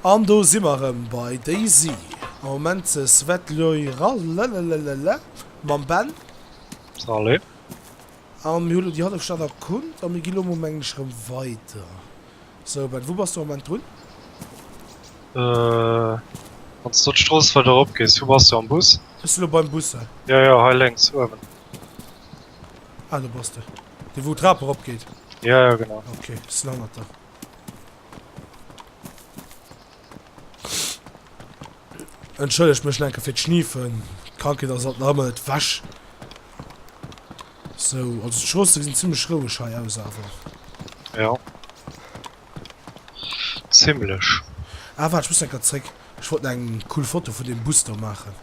An do si mer erëm bei Daisy am Moment, de Svetloy rallelelelele mam Ben. Rallé. A mir hu lo déi Hallefstad erkunnt a mir gi lo mengl ech erëm weider. Sou Ben, wou bass du am Moment drun? Wann s du elo d'Strooss weider erop gees, wou bass du am Bus? Ech si lo beim Bus hei. Jo jo, hei lénks uewen. Ah do bass de. Dee wou d'Trap erop geet? Jo jo, genau. Ok, si hannert der. Entschëllegt mech lenke fir d'Schniefen. D'Krankheet ass alt nach ëmmer net wäsch. So, also d'Stroosse sinn zimmlech roueg hei aus awer. Ja. Zimmlech. Ah, waart, ech muss enker zréck. Ech wollt nach eng cool Foto vun deem Bus do maachen.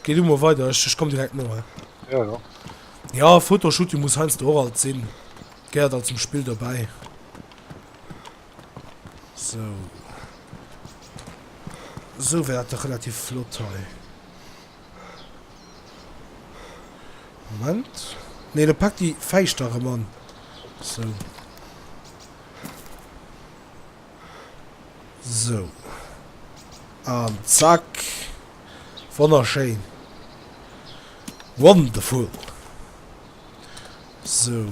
Geh du mol weider, ech, ech komm direkt no, he? Ja, ja. Ja, Fotoshooting muss heiansdo och alt sinn. Gehéiert alt zum Spill dobäi. So. So wär dat dach relativ flott hei. Moment. Nee, da pack déi Fäischter erëm an. So. Sou. An zack. Wonnerschéin. Wonderful. Sou.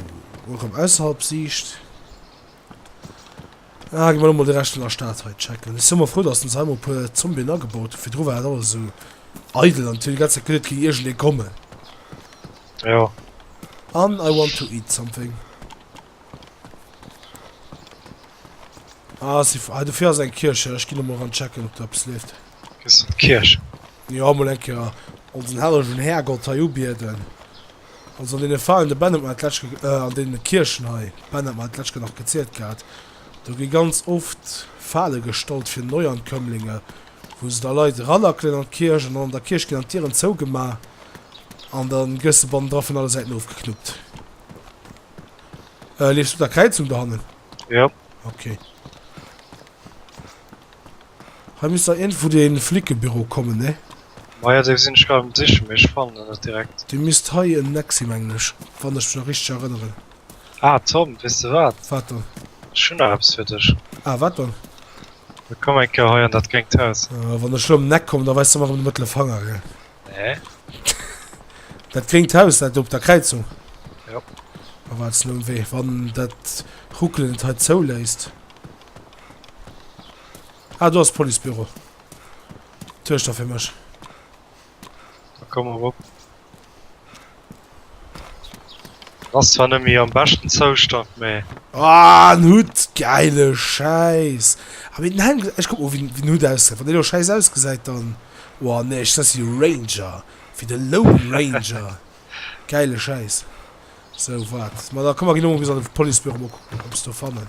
Erëm ausserhalb Siicht. Ah, gi mer mol de Rescht vun der Stad hei checken. Ech si mol frou, datt se ons hei mol e puer Zombien agebaut hunn. Virdru war dat alles esou eidel an et huet déi ganz Zäit geleet, et géing iergendee kommen. Jo. An I want to eat something. Ah, si, ah, dofir ass eng Kierch, ja. Ech ginn emol ran checken, ob do eppes leeft. Dëst ass d'Kierch. Jo, mol eng Kéier onsen hellegen Härgott hei ubieden. Also an deene Verein, de Ben huet mer dat d'lescht Ke, äh, an deene Kierchen hei, Ben hat mer dat d'lescht Ke nach gezielt gehat, do gi ganz oft Fale gestallt fir Neuankömmlinge, wou se da Leit ranackelen an d'Kierch an dann an der Kierch ginn dann d'Dieren zougemaach an da gëss de bannendra vun alle Säiten ofgeknuppt. Äh, leefs du der Kräizung dohannen? Ja. Okay. Hei misst da irgendwo den Flickebüro kommen, ne? Ma ja, dee sinn ech grad um sichen, mee ech fannen en net direkt. Dee misst hei en Eck sinn, mengen ech, wann ech mech nach richteg erënneren. Ah Tom, weess de wat? Wat dann? Ech hunn nach eppes fir dech. Ah, wat dann? Da komm eng Kéier hei an dat gréngt Haus. Ah, wann ech elo ëm den Eck kommen, da weis de mer erëm de mëttele Fanger, gell? Hä? Dat gréngt Haus, dat do op der Kräizung? Jo. A wat ass elo um Wee, wann dat Ruckelen et hei zouléisst? Ah, do ass Policebüro. Tuerchter fir mech. Da komm erop. Ass zwar net méi am beschten Zoustand, mee. Aah, en Hutt! Gäile Schäiss! Ah, mee den Helm gesäit. Ech kuck mol, wéi den Hutt ausgesäit. Wann deen elo schäiss ausgesäit, dann. Oah, nee, ech setz jo Ranger. Fir de Lone Ranger. Gäile Schäiss. Sou, waart. Ma da komm, mer ginn elo mol bis an de Policebüro, mol kucken, ob mer eppes do fannen.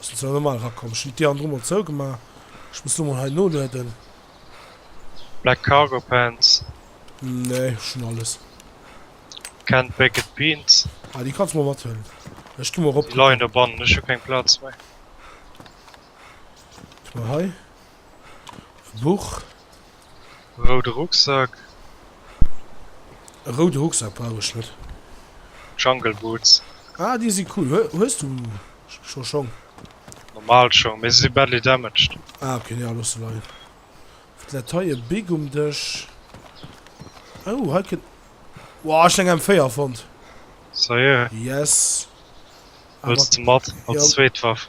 Ass jo zwar normal erakomm. Ech hunn d'Dier andru mol zougemaach. Ech muss lo mol hei nolueden. Black Cargo Pants? Nee, ech hunn alles. Canned Baked Beans? Ah, déi kanns de mol mathuelen. Ech gi mol erop kucken. Déi leien do bannen. Ech hu keng Plaz méi. Ech hu hei e Buch. Roude Rucksack. E roude Rucksack brauch ech net. Jungle Boots. Ah, déi si cool. Hues du scho Schong? Normal Schong, mee se si badly damaged. Ah, okay, nee, los se leien. Wat läit hei? E Big um Dësch. Oh, hei kënnt. Wow, ech hunn eng M4 fonnt. Seriö? Yes. Wëlls de mat als zweet Waff?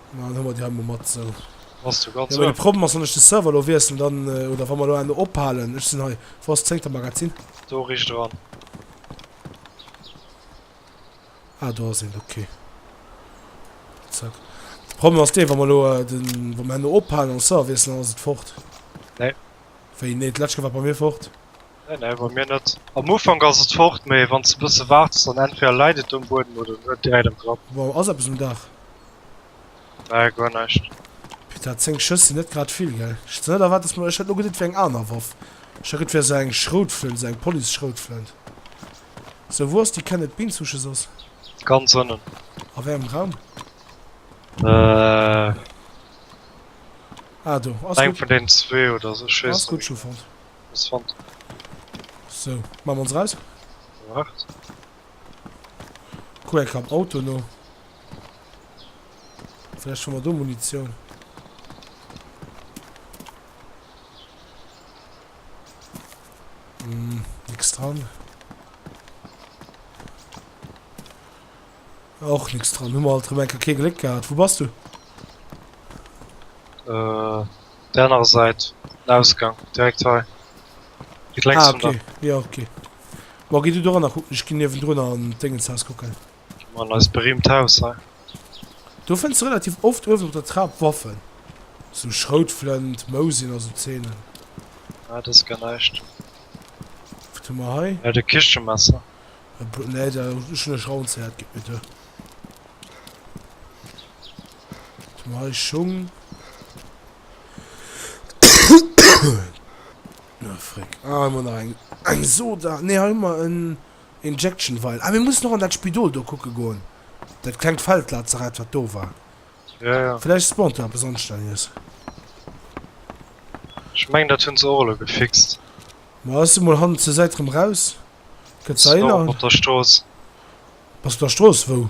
Na, dann hu mer déi hei mol mat esou. Bass du ganz ouen? De Problem ass, wann ech de Server elo wiesselen, dann, oder wa mer elo elo ophalen, ech sinn hei, wou ass d'zéngte Magazin? Do richt eran. Ah, do ass eent, ok. Zack. De Problem ass deen, wa mer elo den, wa mer herno ophalen an de Server wiesselen, dann ass et fort. Nee. Wéi nee? D'lescht Kéier war et bei mir fort. Nee, nee, bei mir net. Am Ufank ass et fort, mee wann s de e bësse waardes, dann entweder läit et um Buedem oder net direkt am Grapp. Wow, ass eppes um Daach? Nee, guer näischt. Peta, 10 Schëss sinn net grad vill, gell? Ech weess net, erwaart dass mer. Ech hätt elo geduet, et wär eng aner Waff. Ech hat geduet, et wär esou eng Schroutflënt, esou eng Police-Schroutflënt. Sou, wou ass déi Kenneth Bean-Souche soss? Ganz ënnen. A wéi engem Raum? Äh. Ah, do. Ass gutt. Eng vun deenen zwee oder esou, ech weess et net méi genau. Ass gutt, ech hu fonnt. Ech fannt en net. Sou, maache mer ons eraus. Waart. Kuck eng Kéier am Auto no. Vläicht fanne mer do Munitioun. Hm, nix dran. Och nix dran. Hu mer alt erëm eng Kéier kee Gléck gehat. Wou bass du? Äh, Där anerer Säit den Ausgang, direkt hei, direkt lenks vun der. Ah, ok, jo, ok. Bon, gi du doranner kucken, ech ginn niewendrun an d'Déngenshaus kucken. Gi mer an eist berüümt Haus hei. Do fënns de relativ oft uewen op der Trap Waffen. Sou Schroutflënt, Mousinen a sou Zeenen. Ah, dat ass gar näischt. Wat hu mer hei? Dat e Kichemesser. E Blo. Nee, dat hunn ech ronn zéiert. Gitt mir du. Nei Schung. Na fréck. Ah, hu mer nach eng, eng Soda. Nee, hei hu mer en Injection Vial. Ah, mir mussen och an dat Spidol do kucke goen. Dat klengt Feldlazarett, wat do war. Jo, jo. Vläicht spawnt do eppes Onschtelleges. Ech mengen, dat hunn se och elo gefixt. Ma ass se mol hannen zur Säit rëm raus? Gëtt se Haiser? Mat der Strooss. Bass der Strooss wou?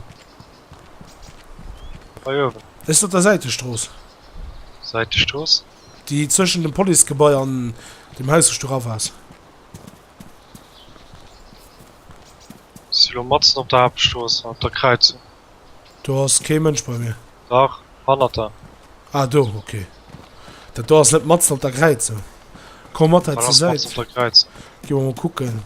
Hei uewen. Ech si op der Säitestrooss. Säitestrooss? Déi zwëschen dem Policegebai an dem Haus wou s du rauf ass. Ech si lo matzen op der Haaptstrooss, op der Kräizung. Do ass kee Mënsch bei mir. Dach, hannert der. Ah do, ok. Dat do ass net matzen op der Kräizung. Komm mat hei zur Säit. Dat ass matzen op der Kräizung. Gi mer mol kucken.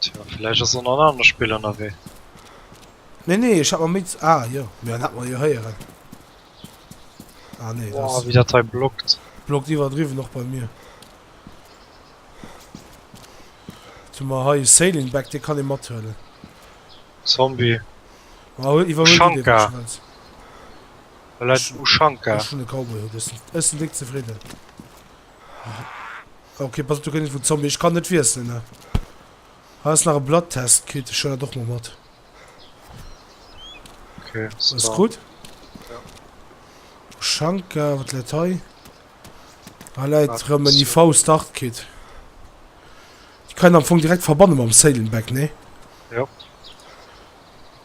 Tjo, vläicht ass en an anere Spill ënnerwee. Nee, nee, ech hat mer méi. Ah jo, mir hat mer jo héieren. Ah nee, dat ass. Wéi dat hei blockt. Blockt iwwerdriwwen och bei mir. Zu mer hei Sailing Back, dee kann ee mathuelen. Zombie. Ah, huel iwwerhuel du dee, wann du wëlls. Well dat Ushanka. Ech hunn e Cowboy-Hut, ech sinn déck zefridden. Ok pass op du kënnt vun Zombie ech kann net wiesselen ne has nach e Blatttest kritt ech schon doch mal mat okay, alles gut ja. Schanka wat läit hei ah, läit rëm en IV Start Kit ich kann am Fong direkt verbannen am Sailenback ne ja.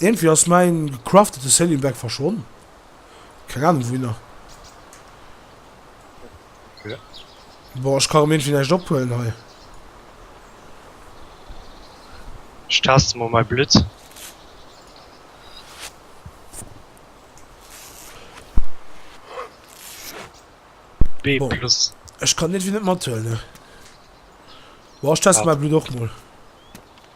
Iergendwéi ass mäin gecraftete Sailing Bag verschwonnen. Keng Ahnung wouhinner. Boah, ech ka rem iergendwéi näischt ophuelen hei. Ech taste mol mäi Blutt. B plus. Ech kann iergendwéi net mathuelen. Boah, ech teste mäi Blutt och mol.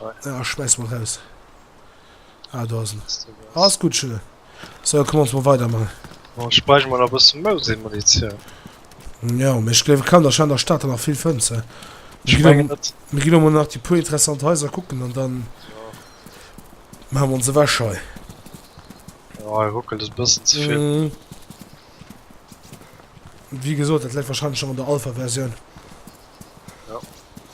Ah, ech schmeiss mol raus. Ah, do ass en. Alles gutt, Schille. So, komm ons mol weidermaachen. Oh, ech bräuch mol nach e bësse Mausi-Munitioun. Jo, mee ech gleef, et kann der scheinend an der Stad dann nach vill fënns, he? Ech mengen net. Mir ginn emol nach déi puer interessant Haiser kucken an dann. Jo. Maache mer ons ewech hei. Jo, hei ruckelt et e bëssen ze vill. Wéi gesot, dat läit warscheinlech nach an der Alpha-Versioun. Jo.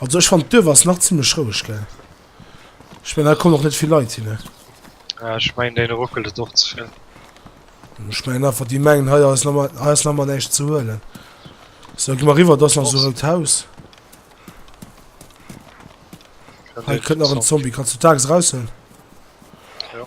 Also ech fand d'Duerf ass nach ziemlech roueg, gell? Ech mein, da kommen och net vill Leit hin, ne? Ja, ech mein, denen ruckelt et och ze vill. Ech mein einfach, déi mengen hei ass nemme, hei ass nemmer näischt ze huelen. So, gi mer riwwer, do ass nach so e rout Haus. Kann Hei den kënnt nach en Zombie, kannst du d'Axt raushuelen? Ja.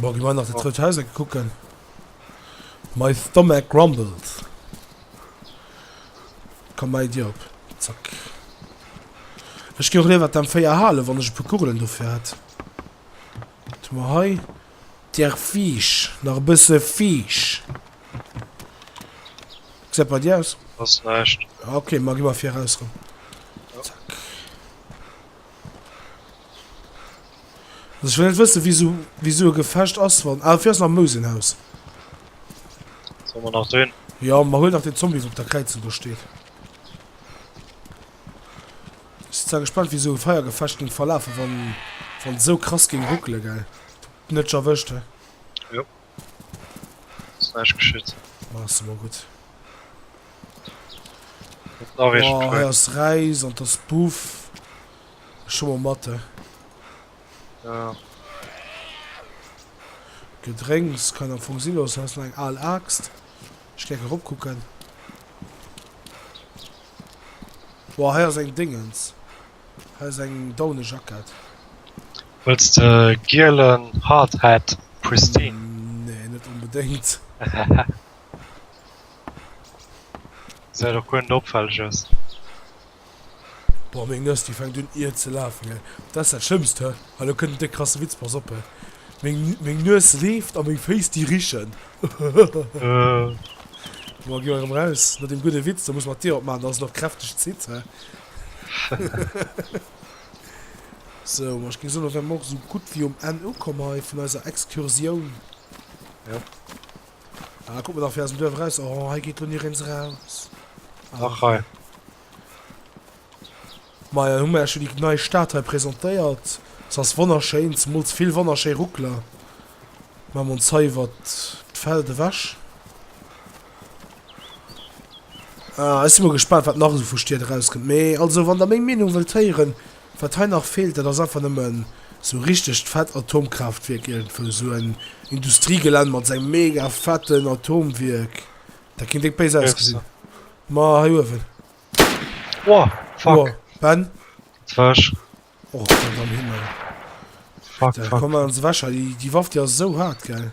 Bon, gi mer nach dat roud Haus eke kucken. My stomach grumbles. Komm bei dir op. Zack. Ech gi och léiwer d'M 4 halen, wann ech e puer Kugelen dofir hätt. Wat hu mer hei? Der Fisch. Nach e bësse Fisch. Wéi gesäit et bei dir aus? Ass näischt. Ok, ma gi mer fir eraus erëm. Zack. Also ich will net wëssen wieso wieso e Gefecht ass wann. Ah fir ass am Mousenhaus. Soll man nach drin? Ja man huet nach den Zombie wo op der Kräizen do steet. Ich sinn zwar gespannt wieso e Feiergefecht ging verlafe wann wann so krass ging ruckele geil. Net erwëscht he. Ass näischt geschitt. Maass de mol gutt. Oh, hei ass Räis an d'ass Buff. Ech hu mol mat, eh. Jo. Gedrénks kann am Fong sinn loossen. Hei ass nach eng al Aaxt. Ech géing erop kucken. Oh, hei ass eng Déngens. Hues eng daune Jackett? Wëlls de gielen Hard Hat, Pristine? Nee, net onbedéngt. Säit och guer net opfälleg aus. Boah, meng Nues déi fänkt un ier ze laafen, hei. Dat ass dat schlëmmst, hä? Hei, elo kënnt en déck krasse Witz, pass op, hä. Meng meng Nues leeft a meng Féiss déi richen. Bon, gi mer erëm raus no deem gudde Witz, da muss mer d'Dier opmaachen, dass et nach kräfteg zitt, hä. Sou, ma ech géing soen, da wäre mer och esou gutt wéi um Enn ukomm hei vun eiser Excursioun. Jo. Ah, kuck mol nach fir aus dem Duerf eraus. Oh, hei geet elo ni rens eraus. Ach, hei. Ma jo, hu mer iech jo déi nei Stad hei presentéiert. Se ass wonnerschéin, zemools vill wonnerschéi Ruckler. Maache mer ons hei iwwert d'Feld ewech. Ah, ech si mol gespannt, wat nach esou vu Stied erauskënnt. Mee also, wann der meng Meenung wëllt héieren, wat hei nach feelt, dat ass einfach nëmmen esou richtegt fett Atomkraaftwierk, iergendwou esou en Industriegelänn mat sengem mega fetten Atomwierk. Dat kéint déck béis ausgesinn. Ma hei uewen. Oh, fuck. Oh, Ben? Dat war ech. Och, Gott am Himmel. Fuck, fuck. Komm, maan se ewech hei. Déi Waff, déi ass esou haart, gell?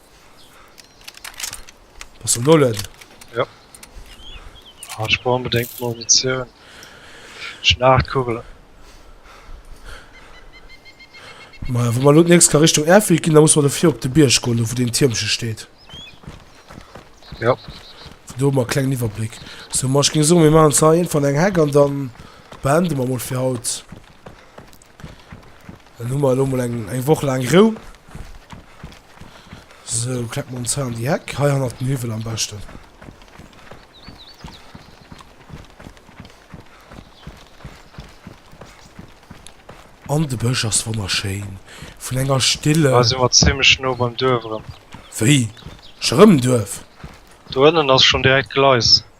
Bass du nullen? Jo. Ah, ech brauch unbedéngt Munitioun. Ech hunn 8 Kugelen. Maja, wa mer elo d'nächst Kéier Richtung Airfield ginn, da musse mer dofir op de Bierg goen, do wou deen Tiermche steet. Jo. Vun do hu mer e klengen Iwwerbléck. Sou, ma ech géing soen, mir maachen zwar iergendwann eng Heck an dann beende mer mol fir haut. Dann hu mer elo mol eng eng Woch laang Rou. So kleck mer ons hei an déi Heck. Hei hannert den Hiwwel am beschten. An de Bësch ass wonnerschéin. Vun enger Stille. Da si mer zimmlech no beim Duerf erëm. Wéi? Scho rëm Duerf? Do ënnen ass schonn direkt Gleis.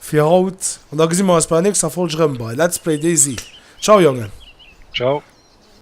Fir haut an da gesi mer eis bei der nächster Folg rëm bei Let's Play Daisy. Ciao Jongen! Ciao!